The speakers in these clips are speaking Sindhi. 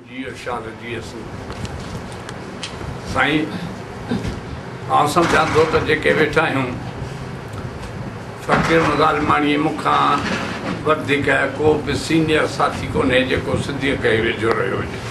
جي ارشاد جي اسين سائين آئون سمجهان ٿو ته جيڪي ويٺا آهيون فقير مظالماڻي مون کان وڌيڪ ڪو به سينيئر ساٿي ڪونهي جيڪو سنڌيء کي ويجهو رهيو هجي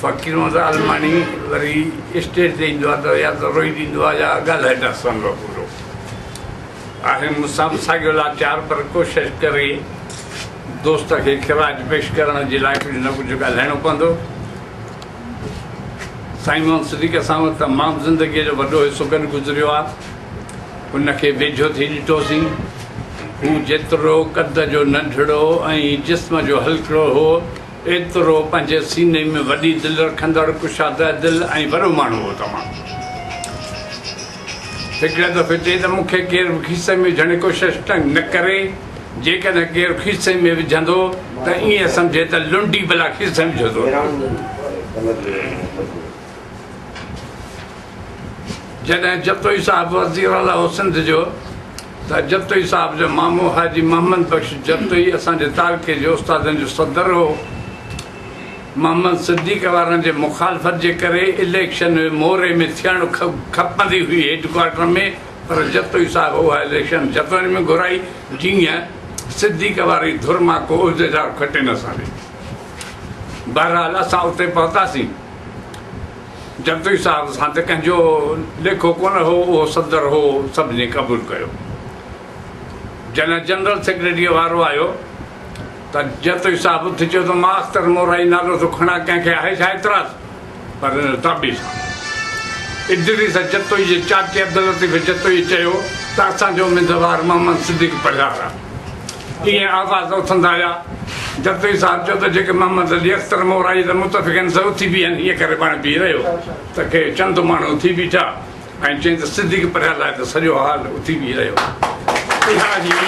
فقير مظالماڻي وري اسٽيج تي ايندو آهي ته يا ته روئي ڏيندو آهي يا ڳالهائي نه سهندو آهي پورو آهي مون سان به ساڳيو لاچار پر ڪوشش ڪري دوست کي خراج پيش ڪرڻ جي لاء ڪجهه نه ڪجهه ڳالهائڻو پوندو سائين محمد صديق اسان وٽ تمام زندگي جو وڏو حصو گڏ گذريو آ هن کي ويجهو ٿي ڏٺوسين هو جيترو قد جو ننڍڙو ۽ جسم جو هلڪڙو هو ايترو پنهنجي سيني ۾ وڏي دل رکندڙ ڪشاده دل ۽ وڏو ماڻهو هو تمام هڪڙي دفعي چئي ته مون کي ڪير به کيسي ۾ وجهڻ جي ڪوشش نه ڪري، جيڪڏهن ڪير کيسي ۾ وجهندو ته ائين سمجهي ته لنڊي بلا کيسي ۾ وجهيو ٿو رکي. جڏهن جتوئي صاحب وزير اعليٰ هو سنڌ جو ته جتوئي صاحب جو مامو حاجي محمد بخش جتوئي اسان جي تعلقي جي استادن جو صدر هو. محمد صديق وارن جي مخالفت جي ڪري اليڪشن موري ۾ ٿيڻ کپندي هئي هيڊڪوارٽر ۾ پر جتوئي صاحب اها اليڪشن جتوئن ۾ گهرائي جيئن صديق واري ڌر مان ڪو عهديدار کٽي نه سگهي بهرحال اسان اتي پهتاسين جتوئي صاحب سان ته ڪنهن جو ليکو ڪونه هو اهو صدر هو سڀني قبول ڪيو جڏهن جنرل سيڪريٽري وارو آيو ته جتوئي صاحب اٿي چيو ته مان اختر مورائي نالو ٿو کڻان ڪنهن کي آهي ڇا اعتراض؟ پر ان تابي سان ادريس جتوئي جي چاچي عبداللطيف جتوئي چيو ته اسان جو اميدوار محمد صديق پرهيار آهي. ائين آواز اٿندا ويا. جتوئي صاحب چيو ته جيڪي محمد علي اختر مورائي جا متفق آهن سي اٿي بيهن ائين ڪري پاڻ بيهي رهيو ته ڪي چند ماڻهو اٿي بيٺا. ۽ چيائين ته صديق پرهيار لاء ته سڄو هال اٿي بيهي رهيو. اها هئي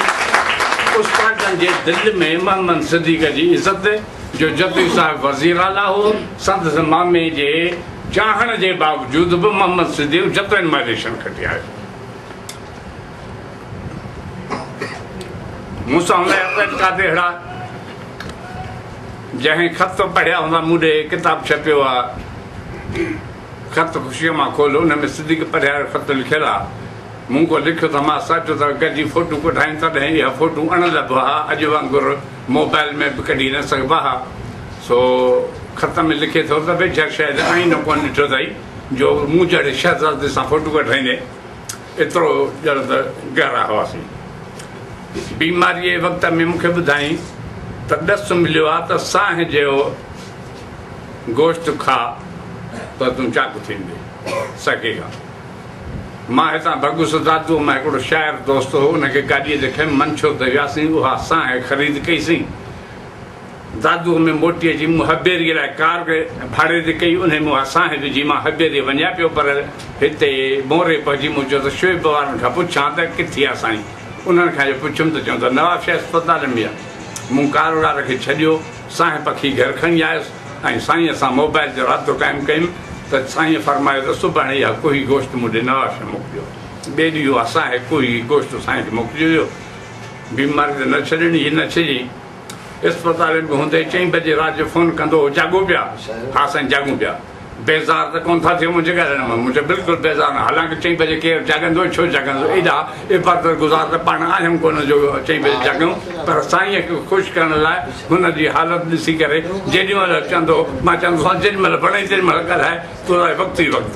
اسپارٽن جي دل ۾ محمد صديق جي عزت، جو جتوئي صاحب وزير اعليٰ هو، سندس مامي جي چاهڻ جي باوجود به محمد صديق جتوئين مان اليڪشن کٽي آيو. مون سان هوندا هيا پيٽ قاضي هڙا، جنهن خط پڙهيا هوندا مون ڏي ڪتاب ڇپيو آ. خط خوشيء مان کول، ان ۾ صديق پرهيار جو خط لکيل آ. مون ڪو لکيو ته مان ساچو ته گڏجي فوٽو ڪڍايون تڏهن اها فوٽو اڻ لڀ ها، اڄ وانگر موبائل ۾ به ڪڍي نه سگهبا ها. سو خط ۾ لکي ٿو ته ويجها شايد آئينو ڪونه ڏٺو اٿئي جو مون جهڙي شهزادي سان فوٽو ڪڍرائيندي ايترو ڄڻ ته گهرا هئاسين. بيماريء جي وقت ۾ مون کي ٻڌائين ته ڏس مليو آ ته سانهه جهڙو. گوشت کا ته تون چاڪ ٿيندي سگهي ها. مان هتان ڀڳس دادوء مان هڪڙو شاعر دوست هو ان کي گاڏيء تي کنيم منڇو ته وياسين اها سانهه خريد ڪئي سين دادوء ۾ موٽي اچي مون هبيري لاء ڪار ڀاڙي تي ڪئي انهي ۾ اها سانهه وجهي مان هبيري وڃان پيو پر هتي موري پهچي مون چيو ته شعيب وارن کان پڇان ته ڪٿي آ سائين انهن کان جو پڇيم ته چون ته نوابشاهي اسپتال ۾ آ مون ڪارولار کي ڇڏيو سائين پکي گهر کڻي آيس ۽ سائينء سان موبائل جو رابطو قائم ڪيم ته سائينء فرمايو ته سڀاڻي اها ڪوهي گوشت مون ڏي نواز شاهه موڪليو. ٻئي ڏينهن اها ساهي ڪوهي گوشت سائينء کي موڪلي ويو. بيماري ته نه ڇڏڻي هئي نه ڇڄي. اسپتالين ۾ هوندي ئي چئين بجي رات جو فون ڪندو هو جاڳو پيا؟ ها سائين جاڳون پيا. بيزار ته ڪونه ٿا ٿيو منهنجي ڳالهائڻ مان؟ مون چيو، بلڪل بيزار نه. حالانڪه چئين بجي ڪير جاڳندو ۽ ڇو جاڳندو؟ ايڏا عبادت گذار ته پاڻ آهيون ڪونه جو چئين بجي جاڳيون. پر سائينء کي خوش ڪرڻ لاء هن جي حالت ڏسي ڪري جيڏي مهل چوندو هو، مان چوندو هوس، جيڏي مهل وڻئي تيڏي مهل ڳالهاء، تون رهه وقت ئي وقت.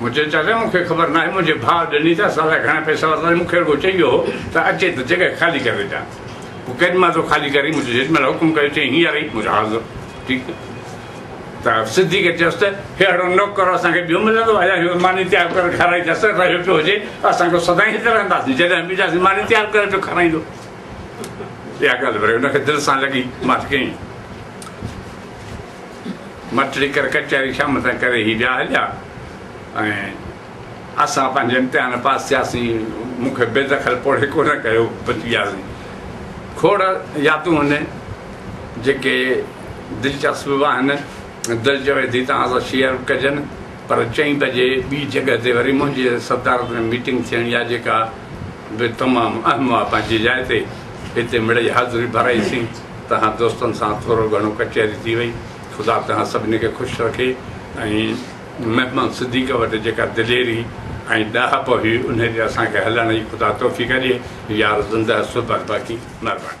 مون چيو چاچا مون کي خبر ناهي منهنجي ڀاء ڏني ته اسان لاء گهڻا پئسا ورتائين مون کي رڳو چئي ويو هو ته اچي ته جڳهه خالي ڪري ڏيان پوء ڪيڏي مهل تو خالي ڪرين مون جيڏي مهل حڪم ڪيو چئي هينئر ئي مون چيو حاضر ٺيڪ ته صديق چيس ته ههڙو نوڪر اسان کي ٻيو ملندو ايا هيو ماني تيار ڪري کارائي ته اثر رهيو پيو هجي اسان کي سدائين هت رهنداسين جڏهن به اينداسين ماني تيار ڪري پيو کارائيندو اها ڳالهه وري هن کي دل سان لڳي مان چيائين مٽڙي ڪر ڪچهري شام تائين ڪري هي ڏيا هليا ۽ اسان پنهنجي امتحان پاس ٿياسين مون کي بي دخل پوڙهي ڪونه ڪيو بچي وياسين کوڙ يادون آهن جيڪي دلچسپ به آهن دل چوي ٿي توهان سان شيئر به ڪجن پر چئين بجي ٻي جڳهه تي وري منهنجي صدارت ۾ ميٽنگ ٿيڻي آهي جيڪا به تمام اهم آهي پنهنجي جاء تي هتي مڙئي حاضري ڀرائيسين توهان دوستن سان ٿورو گهڻو ڪچهري ٿي وئي خدا توهان سڀني کي خوش رکي ۽ محمد صديق وٽ جيڪا دليري ۽ ڏاهپ هئي انهي تي اسان کي هلڻ جي خدا توفيق ڏي يار زنده صحبت باقي مهرباني.